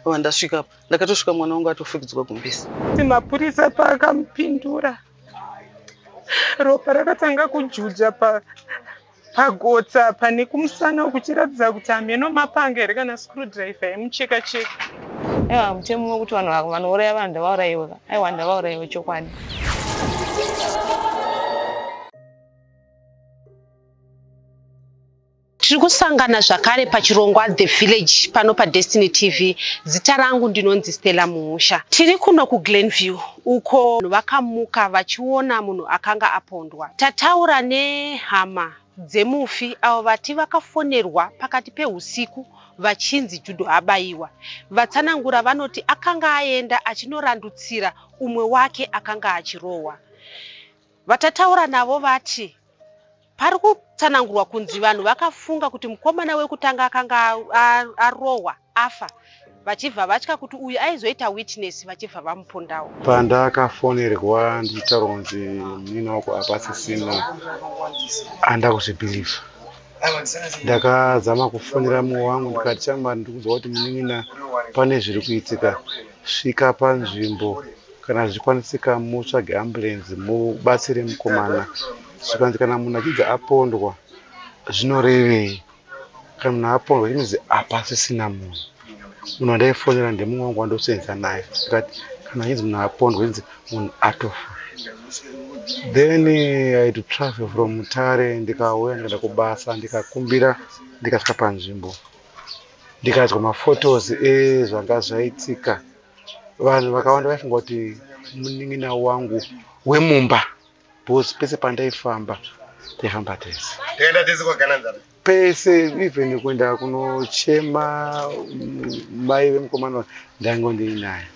Ava ndasvika apa. Ndakatosvika mwana wangu atofukidzwa gumbisi. Mapurisa paakamupindura ropa rakatanga kujuja pa pagotsa pane kumusana uku chiratidza kuti hameno mapanga here kana screwdriver yemucheka cheka aiwa mutemo wekuti vanhu vanouraya vanhu ndavaurayiwe ka aiwa ndavaurayiwe chokwadi Tiri kusangana zvakare pachirongwa The Village pano paDestiny TV. Zita rangu ndinonzi Stella Muhusha. Tiri kuno kuGlenview uko vakamuka vachiona munhu akanga apondwa. Tataura nehama dzemufi avo vati vakafonerwa pakati pehusiku vachinzi Judo abaiwa. Vatsanangura vanoti akanga aenda achinorandutsira umwe wake akanga achirohwa. Vatataura navo vati Pari kutsanangurwa kunzi vanhu vakafunga kuti mukomana wekutanga akanga arohwa afa vachibva vatya kuti uyu aizoita witness vachibva vamupondawo pandakafonerwa ndichitaura kunzi munin'ina wako hapasisina anda kuzvibhilivha ndakazama kufonera mumwe wangu ndikati chama ndikuziva kuti munin'ina pane zviri kuitika svika panzvimbo kana zvichikwanisika mutsvage ambulenzi mubatsire mukomana zvikanzi kana munhu achinzi apondwa zvinorevei kana munhu apondwa chinonzi apasisina munhu munhu wandaifonera ndemumwe wangu wandoseenza naye but kana achinzi munhu apondwa inzi munhu atofa then i to travel from mutare ndikauya ndikaenda kubasa ndikakumbira ndikasvika panzvimbo ndikadzwa maphotos ezvanga eh, zvaitika vanhu vakawanda vaifunga kuti munin'ina wangu wemumba Boss pese pandaifamba taifamba tese. Tenda tese kwa Gananzara. Pese even kuenda kunochema mm, mai vemukomana ndaingo ndiinaye.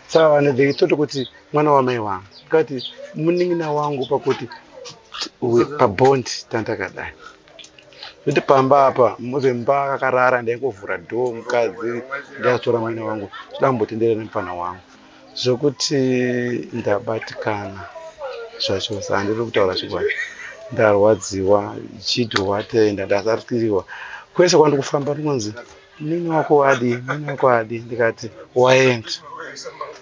Saka vanhu they thought kuti mwana wamai wangu. Kati munin'ina wangu pakuti pabond tandakadai kuti pamba apa muzemba kakarara ndaingovhura dhoo mukadzi ndaitora mwana wangu toda kumbotenderera nemufana wangu Zvekuti ndabatikana zvacho handiri kutaura chokwadi ndarwadziwa chiti watei ndadakariwa kwese kwandiri kufamba ndikunzi mini wako adi mini wako adi ndikati waenda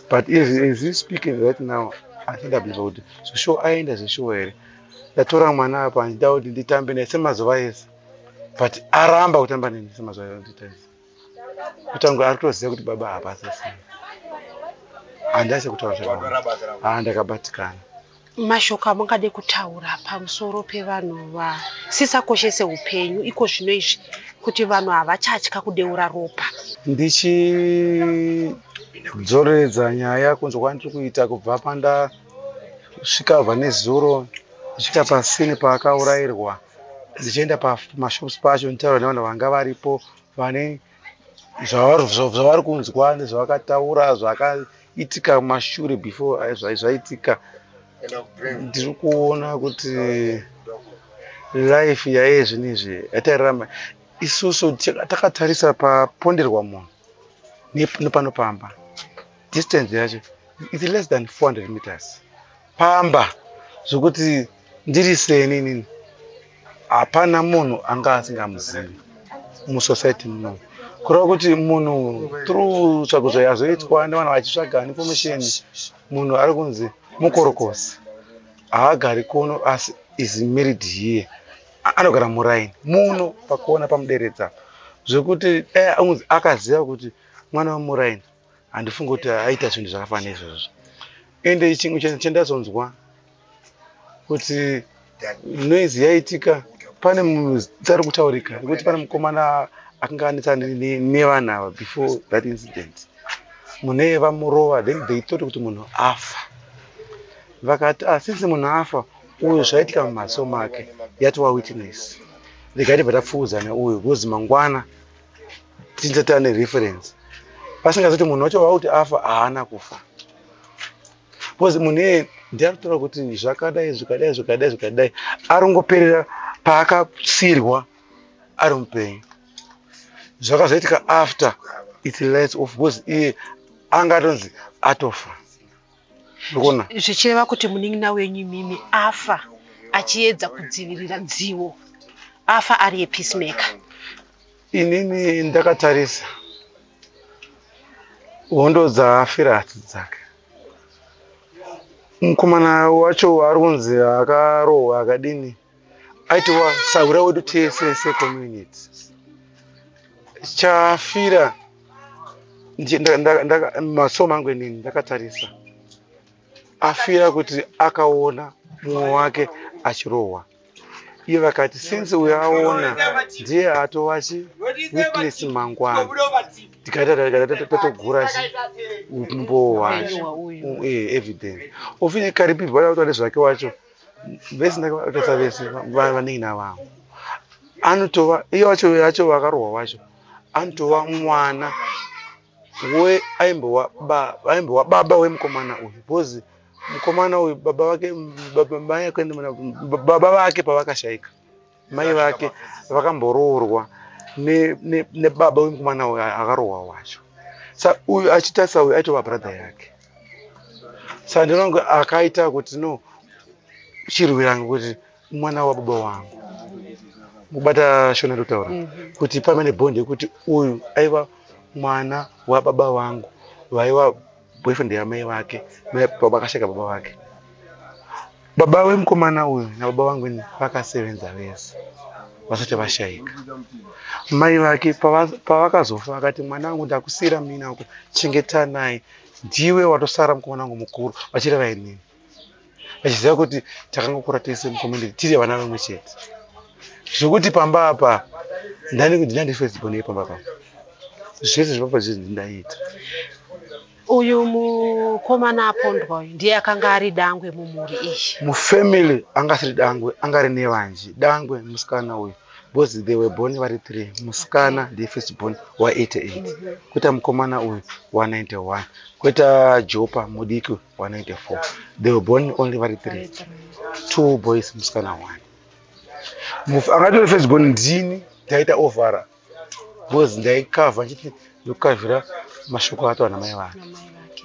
but as, as you speaking right now andidabisa kuti zvishuwa aenda zvishuwa here ndatora mwana apa handida kuti nditambe naye semazuva ese but aramba kutamba neni semazuva ese kutanga ari kutoziva kuti baba hapasa sei handasi kutaura zvakanaka haa ndakabatikana mashoko amungade kutaura pamusoro pevanhu vasisakoshese upenyu iko zvino izvi kuti vanhu havachatya kudeura ropa ndichidzoreredza nyaya kunzwa kwandiri kuita kubva pandasvika vane zuro kusvika pasini paakaurairwa ndichienda pamashops pacho nditaura nevanhu vanga varipo vane zvavari kunzwa nezvavakataura zvakaitika mashure before zvaitika ndiri kuona kuti life yaiye zvinhu izvi yatairarama isusu takatarisa paponderwa munhu nepano pamba distance yacho its less than 400 meters pamba zvokuti ndiri seni inini hapana munhu anga asingamuzivi musociety muno kureva kuti munhu through tsvagudzo yazoitwa nevanhu vachitsvaga information munhu ari kunzi mukorokosi haagari kuno asi is married here anogara muraini muno pakuona pamuderedza zvekuti eh, akaziva kuti mwana wemuraini handifungi kuti aita zvinhu zvakafanana izvozvo ende chimwe chandazonzwa kuti noise yaitika pane muzita rikutaurika rekuti pane mukomana akanga anetsana nevanhu ava before that incident mune vamurova then they thought kuti munhu afa vakati ah, since munhu afa uyu zvaitika mumaso make yatova witness regai tibva tapfuudzana uyu because mangwana tinze tane reference pasingazoti munhu wacho vauti afa haana kufa bcause munhu iye ndiaritoa kuti zvakadai zvikadai zvikadai zvikadai aringoperera paakasirwa ari mupenyu zvakazoitika after its lights off bcause iye anga atonzi atofa ndikuona zvichireva kuti munin'ina wenyu imimi afa achiedza kudzivirira dzivo afa ari yepeacemaker inini ndakatarisa hondo dzaafira hati dzake mukomana wacho ari kunzi akarohwa akadini aitova sahura wedu tese secommunity chafira maso mangu inini ndakatarisa afira kuti akaona mumwe wake achirohwa iye vakati since uyo aona ndiye atova chi witness mangwana ndikatatotatogura chi umbowo wacho evidence ofine karipirwa yakutoa nezvake wacho vese ndakavatosa vese vanenge navavo anotova iyo vacho vacho vakarohwa vacho anotova mwana we aimbova aimbova baba wemukomana uyu because mukomana uyu baba vake baba vake pavakashaika mai vake vakamboroorwa nebaba wemukomana uyo akarohwa wacho sa uyu achitarisa uyu aitova brother yake sa ndinonge akaita kuti no chirwiranga kuti mwana wababa wangu kubata shona ndotaura mhm. kuti pamene bond yekuti uyu aiva mwana wababa vangu vaiva boyfriend yamai vake mai baba vakasheka baba vake baba vemukomana uyu nababa vangu ini vakasevenza vese vasati vashaika mai vake pavakazofa vakati mwana wangu ndakusiira mina uko chengetanai ndiwe watosara mukomana wangu mukuru vachireva inini achiziva kuti takangokura tese mucommunity tiri vana vamwe chete zvekuti pamba apa ndandifesbonei pamba papa zvese zvepapa zvese ndindaita uyu mukomana apondwa uyu ndiye akanga ari dangwe mumhuri iyi mufamily anga asiri dangwe anga ari nevanji dangwe musikana uyu because they were born vari three musikana ndiye first born wa 88 mm -hmm. kweta mukomana uyu wa 91 kweta jopa mudiki 194 they were born only vari three two boys musikana one mufi angatore first born ndini ndaita ovhara because ndaikavha ndichiti ndokukavhira mashoko ato ana mai vake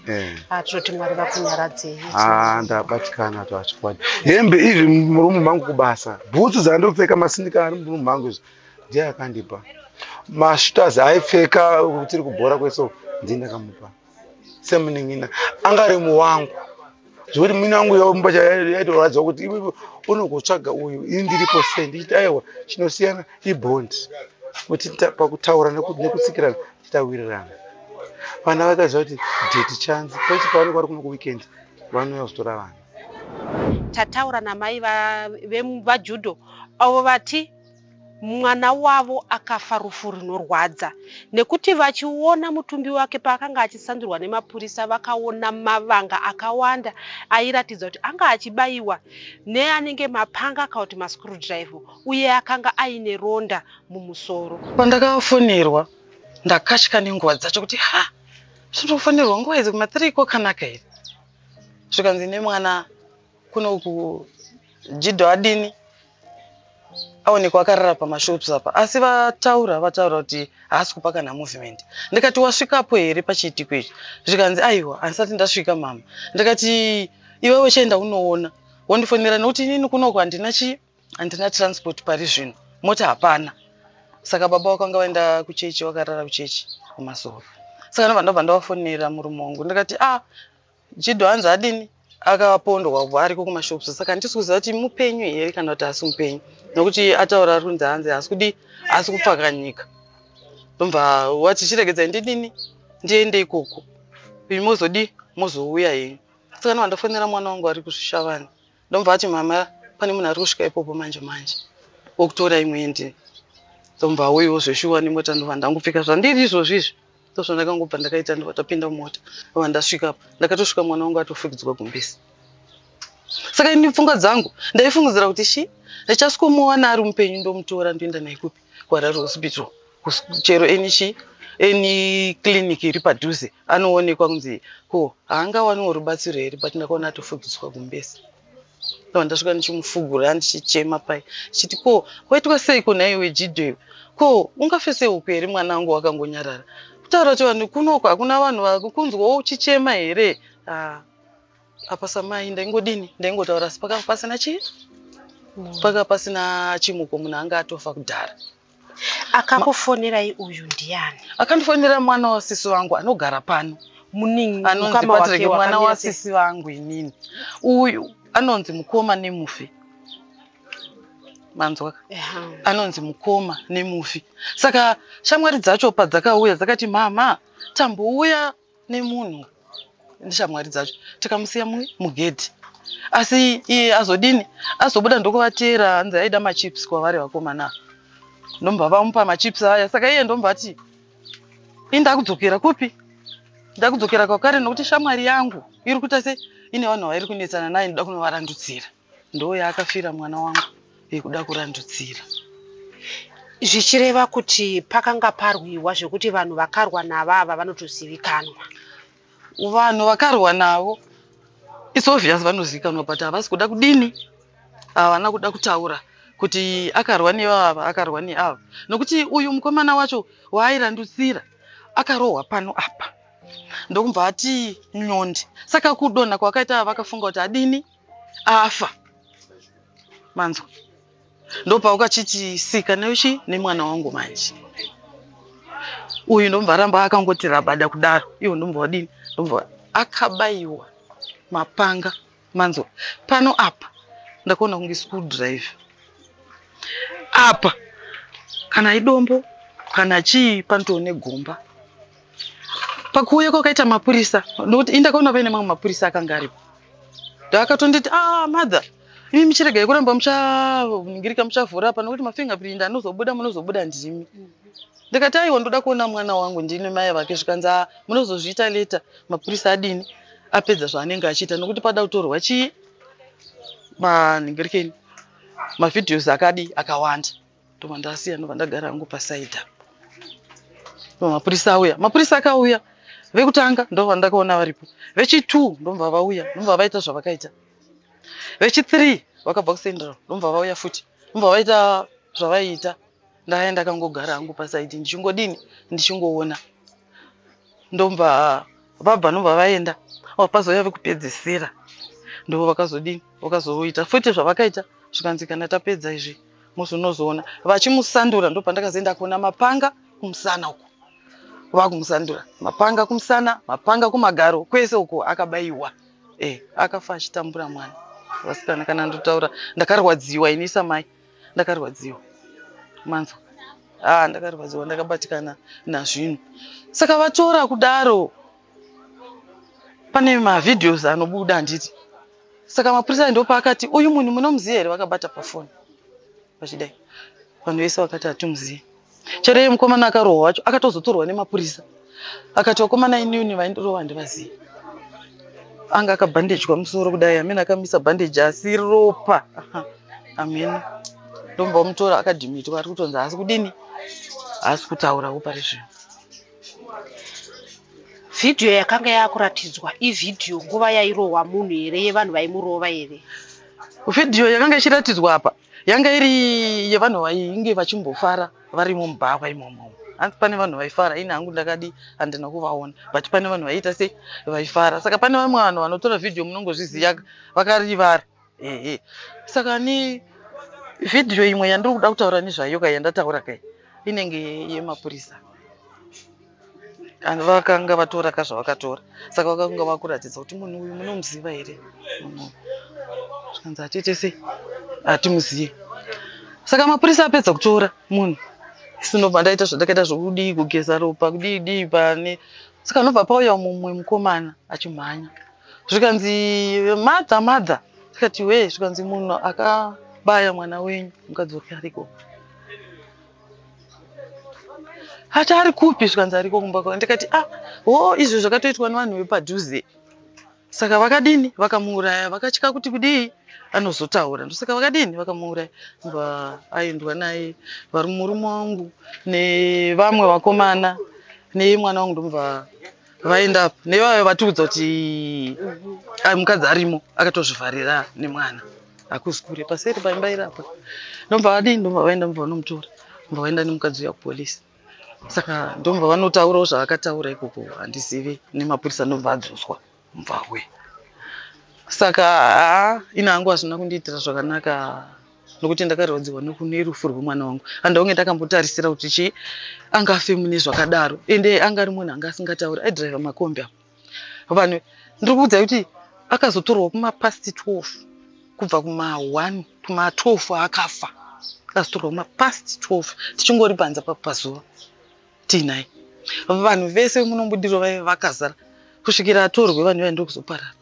eh. ah, toti mwari vakunyaradzei ah, ndabatikana to achikwadi hembe izvi murumu mangu kubasa bhutsu dzandopfeka masindika ari murumu mangu izvi ndiye akandipa mashutazi aipfeka tiri kubhora kweso ndini ndakamupa semunin'ina anga ari muwangu zvekuti munin'ina wangu yomba chayaitorwadza kuti iwe unogotsvaga uyu ini ndiripo sei ndichiti aiwa chinosiyana ibond kuti pakutaura nekutsikirana titawirirana vana vakaziva kuti deti chanzi pese pavanenge vari kuno kuweekend vanouya kuzotora vana tataura namai vejudo avo vati Mwana wavo akafa rufu rinorwadza nekuti vachiona mutumbi wake paakanga achisandurwa nemapurisa vakaona mavanga akawanda airatidza kuti anga achibaiwa neanenge mapanga kana kuti mascrewdriver uye akanga aine ronda mumusoro. Pandakafonerwa ndakatya nenguva dzacho kuti ha zvinofonerwa nguva idzi kuma 3 kokanaka here zvikanzi nemwana kunoku jidho adini aonekwa akarara pamashops apa asi vataura vataura kuti haasi kupa kana movement ndikati wasvikapo here pachiitiko ichi zvikanzi aiwa handisati ndasvika mama ndikati iwewe chaenda unoona wondifonera nekuti inini kunoko handina chi handina transport pari zvino mota hapana saka baba wakanga vaenda kuchechi wakarara kuchechi kumazuva saka ndobva ndobva ndavafonera murume wangu ndikati a ah, Jido hanzi adini akapondwa kubva ariko kumashops saka handisi kuziva kuti mupenyu here kana kuti asi mupenyu nokuti ataura ari kunzi hanzi asi kudi asi kupfakanyika ndomva wati chiregedzai ndidini ndiende ikoko ii mozodii mozouya henyu saka novandafonera mwana wangu ari kusvishavani ndomva ati mama pane munhu ari kusvika ipopo manje manje wokutora imwe ende ndomva auyiwo zveshuwa nemota ndova ndangopfeka zvandiri izvozvi izvi ndozvo ndakangobva ndakaita ndova tapinda mumota ndova ndasvika apa ndakatosvika mwana wangu atofugidzwa gumbisi saka ini pfungwa dzangu ndaifungidzira kuti shi ndichasikomuwana ari mupenyu ndomutora ndoenda naye kupi kuharare hospital chero enichi eni clinic iri padhuze anoonekwa kunzi ko haangawaniwo rubatsiro here but ndakaona atofugidzwa gumbese ava ndasvika ndichimufugura ndichichema pai chiti ko waitwa sei ko naiwe jidheyo ko ungafe seuku here mwana wangu wakangonyarara kutaura kuti vanhu kunoko hakuna vanhu vakunzwawo uchichema here ah. apa samai ndaingodini ndaingotaura asi pakanga pasina chii mm. paka pasina chimuko munhu anga atofa kudhara akakufonerai uyu ndiani akandifonera mwana wasisi vangu anogara pano muningi anonzi patrike mwana wasisi vangu inini uyu anonzi mukoma nemufi manzwa anonzi mukoma nemufi saka shamwari dzacho padzakauya dzakati mama tambouya nemunhu ndishamwari dzacho tikamusiya mugedhi asi iye azodini azobuda ndokuvatera hanzi aida machips kwavari vakomana ndomba vamupa machips aya saka iye ndomba ati indakudzokera kupi ndakudzokera kwakare nokuti shamwari yangu iri kuita se ine vanhu vairi kunetsana naye ndoda kunovarandudzira ndoyaakafira mwana wangu yekuda kurandudzira zvichireva kuti pakanga parwiwa zvekuti vanhu vakarwa navo ava vanotozivikanwa vanhu vakarwa navo its obvious vanozivikanwa but havasi kuda kudini havana kuda kutaura kuti akarwa nevava akarwa neava nokuti uyu mukomana wacho waairandutsira akarohwa pano apa ndokumva ati nyondi saka kudonha kwakaita vakafunga kuti adini afa manzwa ndopaukachichisika neuchi nemwana wangu manje uyu ndomva aramba akangoti rabada kudaro iwo ndomva wadini ndomva akabayiwa mapanga manzwa pano apa ndakaona kunge school driver apa kana idombo kana chii panotoone gomba pakuuya kwakaita mapurisa nokuti indakaona paine mamwe mapurisa akanga aripo ndaakatonditi a ah, mother imi michirega yekuramba muchaningirika muchavhura apa nokuti mafingerprint anozobuda munozobuda ndimi ndikati aiwa ndoda kuona mwana wangu ndini mai vake zvikanzi a ah, munozozviita leta mapurisa adini apedza zvaanenge achiita nokuti pada kutorwa chii maningirikeni mavideos akadi akawanda ndobva ndasiya ndobva ndagara hangu pasaida mapurisa auya mapurisa akauya vekutanga ndobva ndakaona varipo vechitu ndobva vauya ndobva vaita zvavakaita vechithree vakabva kusendera ndobva vauya futi ndobva vaita zvavaiita ndaya ndakangogara hangu pasaidi ndichingodini ndichingoona ndobva vabva ndobva vaenda vapazouya vekupedzisira ndivo vakazodini vakazoita futi zvavakaita zvikanzi kana tapedza izvi Musi unozoona vachimusandura ndopandakazoenda kuona mapanga kumusana uko. Vakumusandura mapanga kumusana, mapanga kumagaro kwese uko akabaiwa. Eh, akafa achitambura mwana. Vasikana kana ndotaura ndakarwadziwa ini samai. Ndakarwadziwa. Manzwa. Ah, ndakarwadziwa ndakabatikana nazvinhu. Saka vatora kudaro pane mavideos anobuda handiti? saka mapurisa ndo paakati uyu munhu munomuziva here vakabata pafoni vachidai vanhu vese vakati hatimuzive chero iye mukomana akarohwa wacho akatozotorwa nemapurisa akati vakomana inini vaindirova handivazive anga akabhandejwa musoro kudai amene akamisa bhandeji asi ropa amene ndomba omutora akadhimitwa ari kutonzi haasi kudini haasi kutaurawo pari zvino Video yakanga yakuratidzwa ivideo nguva yairohwa munhu here yevanhu vaimurova here? Video yakanga ichiratidzwa apa yanga iri yevanhu vainge vachimbofara vari mumubhawa imomo. Hanzi pane vanhu vaifara, ini hangu ndakadi handina kuvaona but pane vanhu vaiita sei vaifara. Saka pane vamwe vanhu vanotora video munongozviziva vakarivara. ehe saka ni vhidhiyo imwe yandiri kuda kutaura nezvayo ka yandataura kai inenge yemapurisa and vakanga vatora ka zvavakatora saka vakanga vakuratidza kuti munhu uyu munomuziva here zvikanzi hatiite sei hatimuzivi saka mapurisa apedza kutora munhu sinobva ndaita zvandakaita zvokudii kugeza ropa kudii dii pane saka nobva pauya mumwe mukomana achimhanya zvikanzi mother mother tikati wee zvikanzi munhu akabaya mwana wenyu mukadzi wake ariko ati ari kupi zvikanzi ariko kumba kwavo ndikati ah ho izvo zvakatoitwa nevanhu vepadhuze saka vakadini vakamuuraya vakatya kuti kudii anozotaura ndosaka vakadini vakamuuraya mba aendwa naye vari murume wangu nevamwe vakomana nemwana wangu ndomva vaenda apa nevavo vatiudza kuti ai mukadzi arimo akatozvivharira nemwana hakuzi kure paseri paimba iri apa ndomva vadii ndomva vaenda mva vanomutora mva vaenda nemukadzi uya kupolisi saka ndomva vanotaurawo zvaakataura ikoko handizivi nemapurisa ndomva adzoswa mvawe saka haa ina hangu hazvina kundiitira zvakanaka nokuti ndakarwadziwa nerufu rwemwana wangu and onge ndakambotarisira kuti chii anga afe mune zvakadaro ende anga ari munhu anga asingatauri aidriver makombi apo vanhu ndiri kuudzai kuti akazotorwa kumapast 12 kubva kuma1 kuma12 aakafa akazotorwa kumapast 12 tichingori panza papazuva tiinai vanhu vese munombudiro vaive vakazara kusvikira atorwe vanhu vaindokuzoparara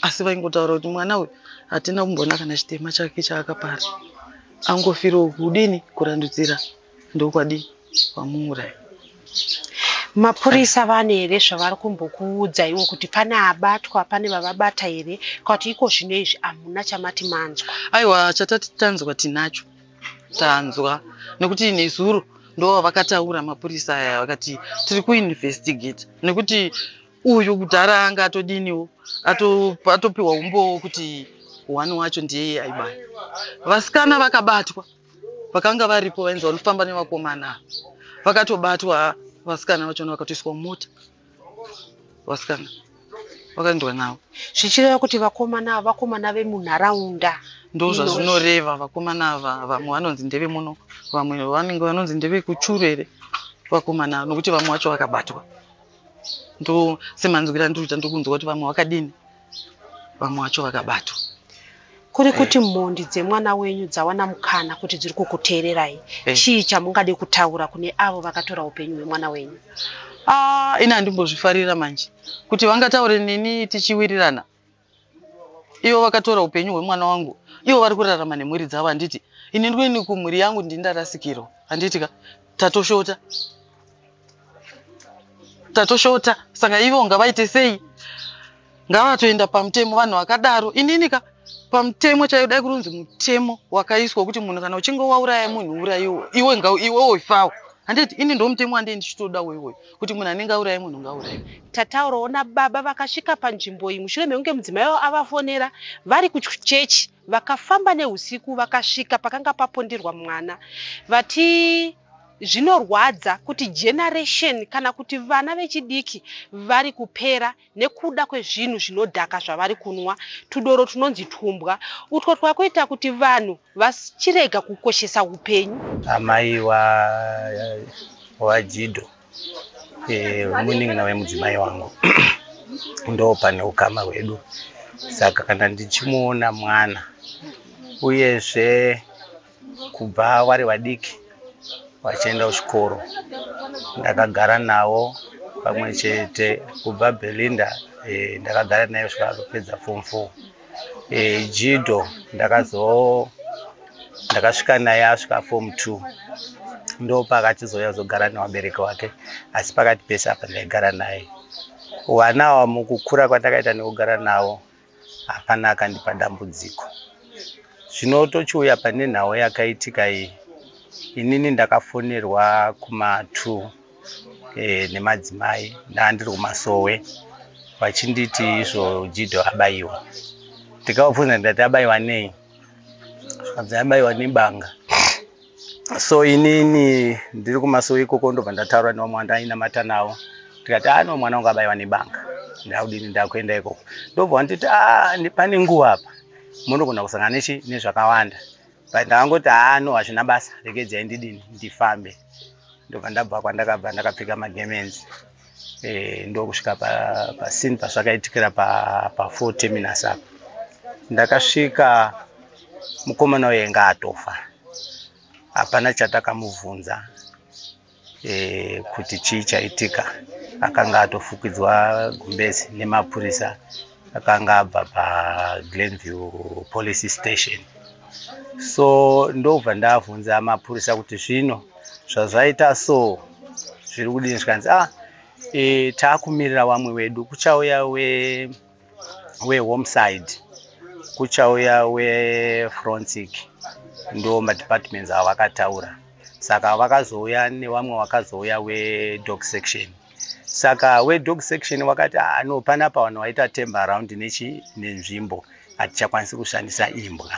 asi vaingotaura kuti mwana uyu hatina kumboona kana chitema chake chaakapara angofiriwo kudini kurandudzira ndokwadii vamuuraya mapurisa vane here zvavari kumbokuudza iwo kuti pane abatwa pane vavabata here kwakuti iko zvino izvi hamuna chamati manzwa aiwa chatati tanzwa tinacho tanzwa nekuti nezuro ndo vakataura mapurisa aya vakati tiri kuinvestigate nekuti uyu kudhara anga atodiniwo atopiwa umbowo kuti one wacho ndiye aibaya vasikana vakabatwa vakanga varipo vainzi vanofamba nevakomana vakatobatwa vasikana vachona vakatoiswa mumota vasikana vakaendwa navo zvichireva kuti vakomana ava vakomana vemunharaunda ndo zvazvinoreva vakomana ava vamwe vanonzi ndeve muno vamwe vanenge vanonzi ndeve kuchuru here vakomana ava nokuti vamwe vacho vakabatwa ndo semanzwira andiriita ndokunzwa kuti vamwe vakadini vamwe vacho vakabatwa kuri kuti mhondi dzemwana wenyu dzawana mukana kuti dziri kukuteererai eh. chii chamungade kutaura kune avo vakatora upenyu hwemwana wenyu ah, ini handimbozvifarira manje kuti vangataure neni tichiwirirana ivo vakatora upenyu hwemwana wangu ivo vari kurarama nemhuri dzavo handiti ini ndini kumhuri yangu ndini ndarasikirwa handiti ka tatoshota tatoshota saka ivo ngavaite sei ngavatoenda pamutemo vanhu vakadaro inini ka pamutemo chaiyo dai kurunzi mutemo wakaiswa wekuti munhu kana uchinge wauraya munhu urayiwo iwe ngaiwewo ifawo handiti ini ndo mutemo wandei ndichitoda woiwoyo kuti munhu anenge auraye munhu ngauraye tataurawo nababa vakasvika panzvimbo iyi mushure mekunge mudzimai wavo avafonera vari kuchechi vakafamba neusiku vakasvika pakanga paponderwa mwana vati zvinorwadza kuti generation kana kuti vana vechidiki vari kupera nekuda kwezvinhu zvinodhaka zvavari kunwa, tudoro tunonzi twumbwa utwo twakuita kuti vanhu vachirega kukoshesa upenyu. Amai waJido eh, munin'ina wemudzimai wangu ndo pane ukama hwedu, saka kana ndichimuona mwana uyezve kubva vari vadiki vachienda kuchikoro ndakagara navo pamwe chete kubva belinda e, ndakagara naye kusvika azopedza form four e, jido ndakazo ndakasvika naye asvika form two ndo paakachizouya zogara nevabereki wake asi pakati pese apa ndaigara naye vana ava mukukura kwandakaita nekugara navo hapana akandipa dambudziko. Zvino tochiuya pane nhau yakaitika iyi, inini ndakafonerwa kuma two eh, nemadzimai ndaandiri kumasowe vachinditi izvo Jido abaiwa. Ndikavabvunza ndikati abaiwa nei? Zvikanzi abaiwa nebanga. so inini ndiri kumasowe ikoko ndobva ndataura nevamwe vandainamata navo tikati a ah, no mwana wangu abaiwa nebanga ndakudini ndakuenda ikoko ndobva wanditi a ah, pane nguva apa munogona kusangana nechi nezvakawanda but ndakangoti haa ah, no hazvina basa regedzai ndidini ndifambe ndobva ndabva kwandakabva ndakapfeka magemenzi e, ndokusvika pasini pa pazvakaitikira pafo pa terminus apa ndakasvika mukomana uye nga atofa hapana chatakamubvunza e, kuti chii chaitika akanga atofukidzwa gumbezi nemapurisa akanga abva paglenview police station so ndobva ndavhunza mapurisa kuti zvino zvazvaita so zviri kudini zvikanzi ah e, taakumirira wamwe wedu kuchauya wehomeside we kuchauya wefrontic ndo madepartments avo vakataura saka vakazouya newamwe wakazouya wedog section saka wedog section wakati ah, no panapa vanhu waita temba around nechi nenzvimbo hatichakwanisi kushandisa imbwa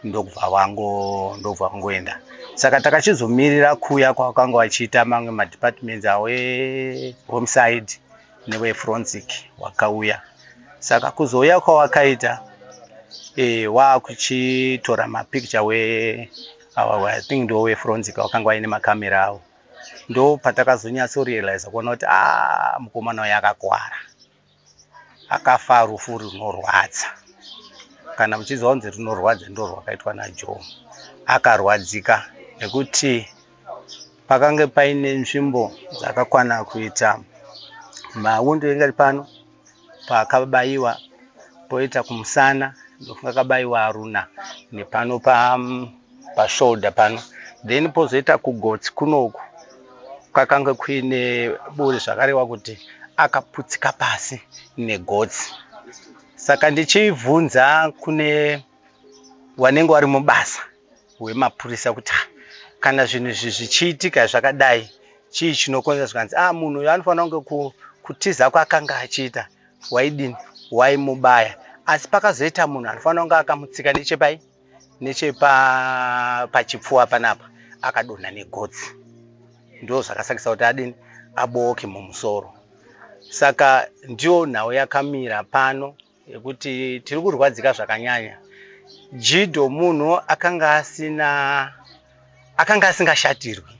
ndokubva wango ndokubva wangoenda saka takachizomirira kuya kwakanga wachiita mamwe madepartments awo ehome side newefronsic wakauya saka kuzouya kwawakaita e, wakuchitora mapicture we awa i think ndowefronsic wakanga waine makamera awo ndo patakazonyatso realize kuona kuti ah, mukomana uyo akakwara akafa rufu runorwadza kana muchiziva kunzi runorwadza ndo rwakaitwa najoe akarwadzika nekuti pakange paine nzvimbo dzakakwana kuita mawundo engari pano paakabaiwa poita kumusana ndofunga akabaiwa aruna nepano pashoulder pano then pozoita kugotsi kunoku kwakange kuine buri zvakarewa kuti akaputsika pasi negotsi saka ndichibvunza kune wanenge wari mubasa hwemapurisa kuti ah, kana zvinhu izvi zvichiitika zvakadai chii chinokonzera zvikanzi a ah, munhu uyo anofanira kunge kutiza kwaakanga achiita waidini waimubaya asi pakazoita munhu anofanira kunge akamutsika nechepai nechepachipfuwa panapa akadonha negotsi ndo zvakasakisa kuti adini abooke mumusoro saka ndiyo nhau yakamira pano yekuti tiri kurwadzika zvakanyanya jido munhu akanga asina akanga asingashatirwi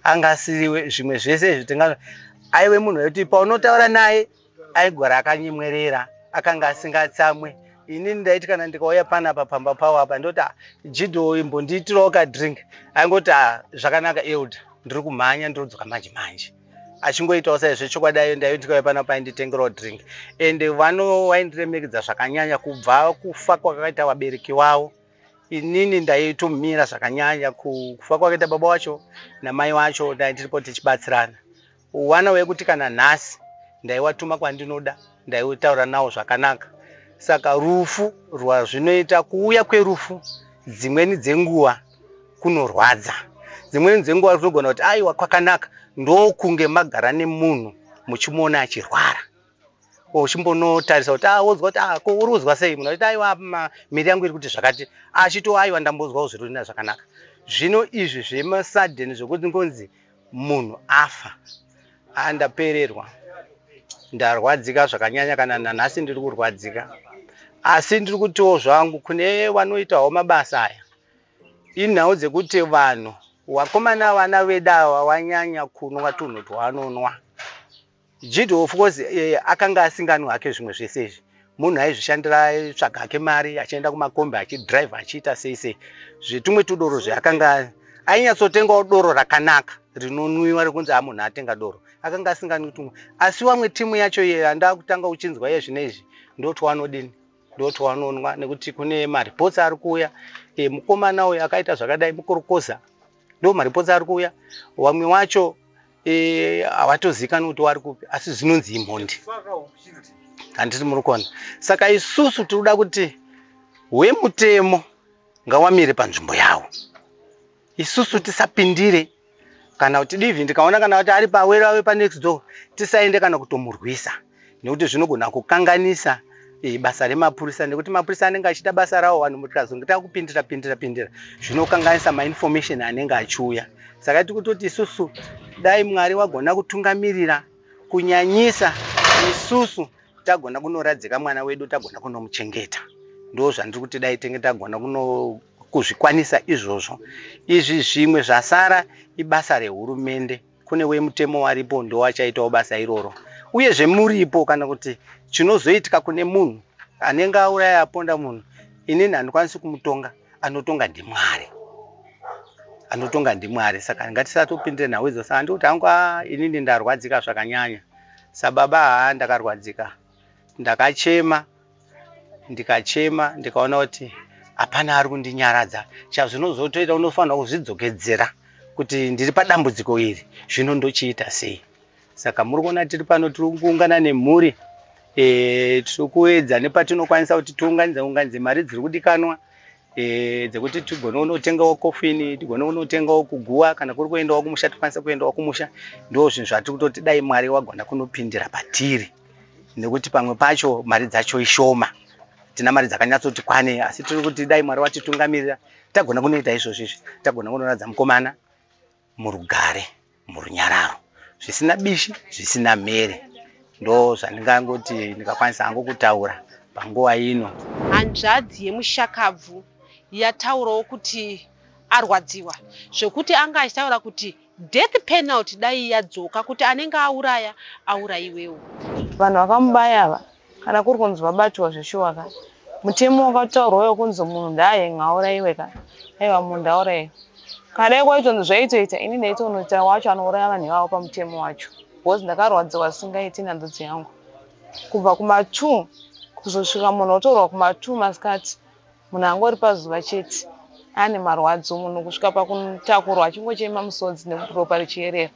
anga asiri zvimwe zvese izvi tinga aive munhu wekuti paunotaura naye aigora akanyemwerera akanga asingatsamwe ini ndaiti kana ndikauya panapa pamba pavo apa ndoti ah, jido uyu mbondiitirawo kadrink aingoti ah, zvakanaka elder ndiri kumhanya ndiri kudzoka manje manje achingoitawo saizvo chokwadi ayo ndayoitika vepana painditengerawo drink and vano waindiremekedza zvakanyanya kubva kufa kwakaita vabereki vavo inini ndaitomira zvakanyanya kufa kwakaita baba wacho namai wacho dai tiripo tichibatsirana wana wekuti kana nhasi ndaiwatuma kwandinoda ndaiutaura nawo zvakanaka saka rufu rwazvinoita kuuya kwerufu dzimweni dzenguva kunorwadza dzimweni dzenguva kunogona kuti aiwa kwakanaka ndokunge magara nemunhu muchimuona achirwara uchimbonotarisa kuti awonzwa ah, kuti ah, ko uri kuzwa sei munhu achiti aiwa miri yangu iri kuti zvakati achito aiwa ndambonzwawo zviri kutina zvakanaka zvino izvi zvemasaden zvekuti ngonzi munhu afa andapererwa ndarwadzika zvakanyanya kana nanhasi ndiri kurwadzika asi ndiri kutiwo zvangu kune vanoitawo mabasa aya Inhau dzekuti vanhu wakomana vana vedawa wanyanya kunwa tunhu twaanonwa jidi of course eh, akanga asinganwi hake zvimwe zvese izvi munhu aizvishandira aitsvaga hake mari achienda kumakombi achidrive achiita sei sei zvetumwe tudoro zveakanga ainyatsotengawo doro rakanaka rinonwiwa rekunzi amunhu atenga doro akanga asinganwi tumwe asi wamwe timu yacho iye andava kutanga uchinzwa iye zvine izvi ndotwaanodini ndoti wanonwa nekuti kune mareports ari kuuya e, mukomana uyu akaita zvakadai mukorokoza ndo mareports ari kuuya wamwe wacho e, havatozikani e, kuti wari kupi asi zvinonzi imhondi handiti muri kuona saka isusu tiri kuda kuti wemutemo ngawamire panzvimbo yawo isusu tisapindire kana kuti divi ndikaona kana kuti ari pawero ave panext door tisaende kana kutomurwisa nekuti zvinogona kukanganisa eh, basa remapurisa nekuti mapurisa anenge achiita basa rawo vanhu mutikazongita kupindira pindira pindira zvinokanganisa mainformation anenge achiuya saka tiri kutoti isusu dai mwari wagona kutungamirira kunyanyisa isusu tagona kunoradzika mwana wedu tagona kunomuchengeta ndo zvandiri kuti dai tenge tagona kuno kuzvikwanisa izvozvo. Izvi zvimwe zvasara ibasa rehurumende, kune wemutemo waripo ndowachaitawo basa iroro. Uye zvemuripo kana kuti chinozoitika kune munhu anenge auraya aponda munhu, inini handikwanisi kumutonga, anotonga ndiMwari. Anotonga ndiMwari, saka ngatisatopindire nhau idzo. Saka ndikuti hangu haa inini ndarwadzika zvakanyanya. Sababa haa ndakarwadzika, ndakachema ndikachema ndikaona kuti hapana ari kundinyaradza chazvinozotoita unofanira kuzvidzokedzera kuti ndiri padambudziko iri zvino ndochiita sei saka muri kuona tiri pano tiri kuungana nemhuri e, tiri kuedza nepatinokwanisa kuti tiunganidze unganidze mari dziri kudikanwa e, dzekuti tigone unotengawo kofini tigone unotengawo kuguwa kana kuri kuendawo kumusha tikwanise kuendawo kumusha ndo zvinhu zvatiri kutoti dai mwari wagona kunopindira patiri nekuti pamwe pacho mari dzacho ishoma tina mari dzakanyatsoti kwane asi tiri kuti dai mwari vatitungamirira tagona kunoita izvozvo izvi tagona kunoradza mukomana murugare murunyararo zvisina bishi zvisina mhere ndo zvandingangoti ndikakwanisa hangu kutaura panguva ino hanzvadzi yemushakabvu yataurawo kuti arwadziwa zvekuti anga achitaura kuti Death penalty dai yadzoka kuti anenge auraya auraiwewo. Vanhu vakamubaya ava kana kuri kunzi vabatiwa zveshuwa ka mutemo wakataurwa uyo kunzi munhu ndaaye ngaauraiwe ka aiwa munhu ndauraiwe kana dai kwaitonzi zvaitoita ini ndaitonoita wacho anouraya vanhu ivavo pamutemo wacho because ndakarwadziwa zvisingaiti nandudzi yangu kubva kuma two kuzosvika munhu otorwa kuma two masikati Munhu angori pazuva chete ane marwadzo, munhu kusvika pakutakurwa achingochema musodzi nekuti ropa richierera.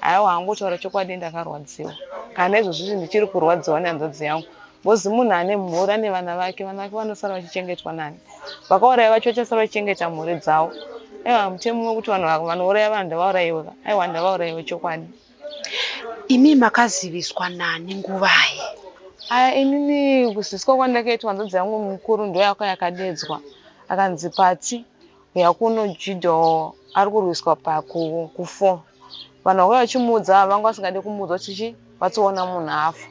Haiwa hangu kutaura chokwadi ndakarwadziwa. Kana nezvozvizvi ndichiri kurwadziwa nehanzvadzi yangu. Ngozi munhu ane mhuri ane vana vake, vana vake vanosara vachichengetwa nani? Vakauraya vacho vachasara vachichengeta mhuri dzavo. Aiwa mutemo wekuti vanhu vanouraya vanhu ndavaurayiwe ka? Aiwa ndavaurayiwe chokwadi. Imi makaziviswa nani nguvai? Aya inini kuziviswa kwandakaitwa hanzvadzi yangu mukuru ndoyaka yakadedzwa akanzi Patsi huya kuno Judo ari kurwiswa paku kufo vanhu vakauya vachimuudza vanga vasingade kumuudza kuti chi vatsiona munhu afa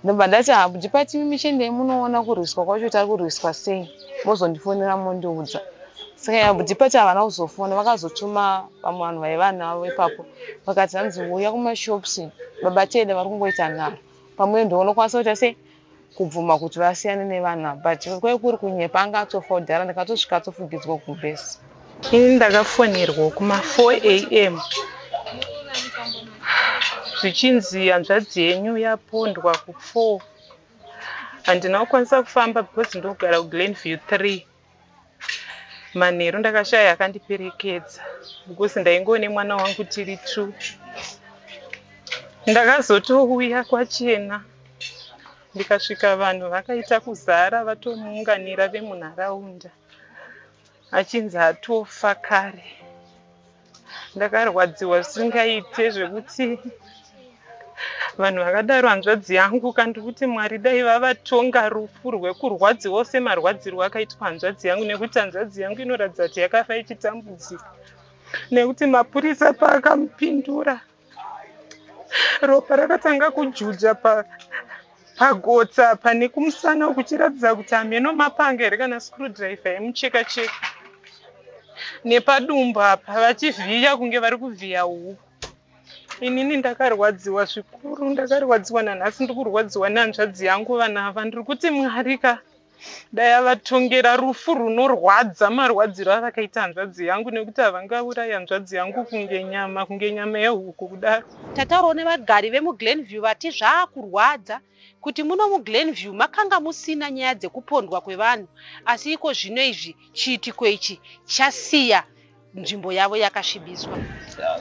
ndobva ndati habudi patimi michendei munoona kurwiswa kwacho tari kurwiswa sei mozondifonera mondiudza saka yabudi pati havana kuzofona vakazotuma vamwe vanhu vaiva navo ipapo vakati hanzi uya kumashops baba tede vari kungoita nharo pamwe ndoo unokwanisa kuita sei kubvuma kuti vasiyane nevana but kwai kuri kunyepa anga atofa kudhara ndakatosvika atofugidzwa kubhesi Ini ndakafonerwa kuma 4 am zvichinzi hanzvadzi yenyu yapondwa ku 4 handina kukwanisa kufamba because ndogara kuglen view 3 manheru ndakashaya akandiperekedza because ndaingowo nemwana wangu tiri two ndakazotouya kwachena ndikasvika vanhu vakaita kuzara vatomuunganira vemunharaunda Achinzi atofa kare. Ndakarwadziwa zvisingaite zvekuti vanhu vakadaro hanzvadzi yangu kandi kuti mwari dai vavatonga rufu rwekurwadziwa ose marwadzirwo akaitwa hanzvadzi yangu nekuti hanzvadzi yangu inoratidza kuti yakafa ichitambudzika nekuti mapurisa paakamupindura pa ropa rakatanga kujuja pagotsa pa pane kumusana uku chiratidza kuti hameno mapanga here kana screwdriver yemucheka cheka nepadumbu apa vachivhiya kunge vari kuvhiya huku inini ndakarwadziwa zvikuru ndakarwadziwa nanhasi ndikurwadziwa nehanzvadzi yangu vana ava ndiri kuti mwari ka dai avatongera rufu runorwadza marwadziro avakaita hanzvadzi yangu nekuti havangaurayi hanzvadzi yangu kunge nyama kunge nyama yehuku kudaro tataurawo nevagari vemuglenview vati zvaakurwadza kuti muno muglenview makanga musina nyaya dzekupondwa kwevanhu asi iko zvino izvi chiitiko ichi chasiya nzvimbo yavo yakasvibiswa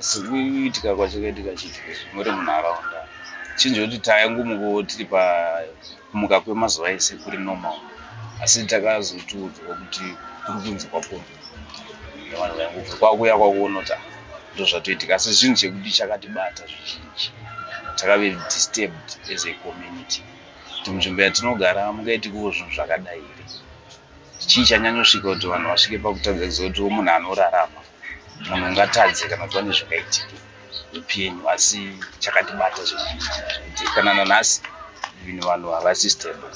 sikuitika kwachakaitika chitizvo muri munharaunda chinjo kuti tayangumuko tiri pakumuka kwemazuva ese kuri normal asi takazotiudzwa kuti kuri kunzi kwapunzi vanhu vaingubva kwakuya kwakuona kuti ah, ndo zvatoitika asi zvinhu chekuti chakatibata zvizhinji takave disturbed as a community kuti munzvimbo yatinogara mungaitikewo zvinhu zvakadai here Chii chanyanyosvika kuti vanhu vasvike pakutadza kuziva kuti munhu anorarama munhu ungatadze kana kuti vane zvingaitika upenyu asi chakatibata zvekuti kana nanhasi even vanhu havasi stable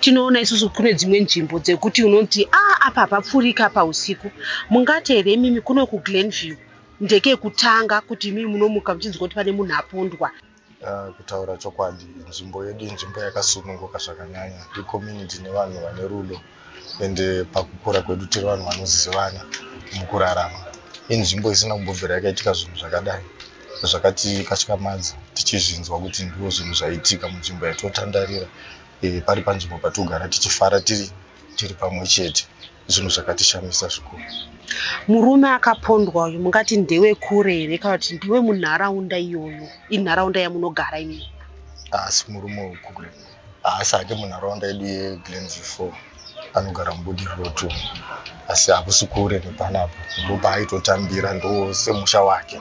tinoona isusu kune dzimwe nzvimbo dzekuti unoti a ah, apa papfurika pausiku mungati here imimi kuno kuglenview ndekekutanga kuti imimi munomuka muchinzwa kuti pane munhu apondwa Uh, kutaura chokwadi nzvimbo yedu inzvimbo yakasununguka zvakanyanya icommunity nevanhu vane rudo ende pakukura kwedu tiri vanhu vanozivana mukurarama inzvimbo isina kumbobvira yakaitika zvinhu zvakadai zvakatikatyamadza tichizvinzwa kuti ndiwo zvinhu zvaitika munzvimbo yatotandarira e, eh, pari panzvimbo patigara tichifara tiri tiri pamwe chete zvinhu zvakatishamisa zvikuru murume akapondwa uyu mungati ndewe kure here kana kuti ndewe munharaunda iyoyo inharaunda yamunogara imi haasi murume wekure haasi ake munharaunda yedu yeglenview four anogara mubudiriro two asi hakusi kure nepanapo ndopaaitotambira ndo semusha wake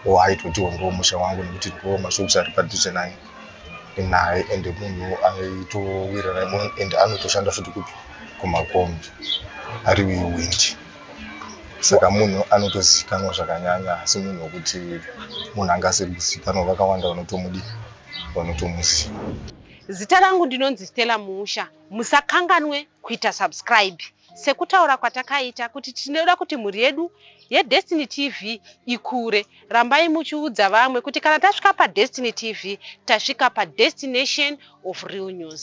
o aitotiwo ndo musha wangu nekuti ndo mashops ari padhuze nani naye and munhu aitowirana munhu and anotoshanda futi kupi kumakombi ari wewindi saka munhu anotozivikanwa zvakanyanya asi munhu wekuti munhu anga asiri kuzivikanwa vakawanda vanotomudi vanotomuziva zita rangu ndinonzi stella musha musakanganwe kuita subscribe sekutaura kwatakaita kuti tinoda kuti mhuri yedu yedestiny tv ikure rambai muchiudza vamwe kuti kana tasvika padestiny tv tasvika padestination of real news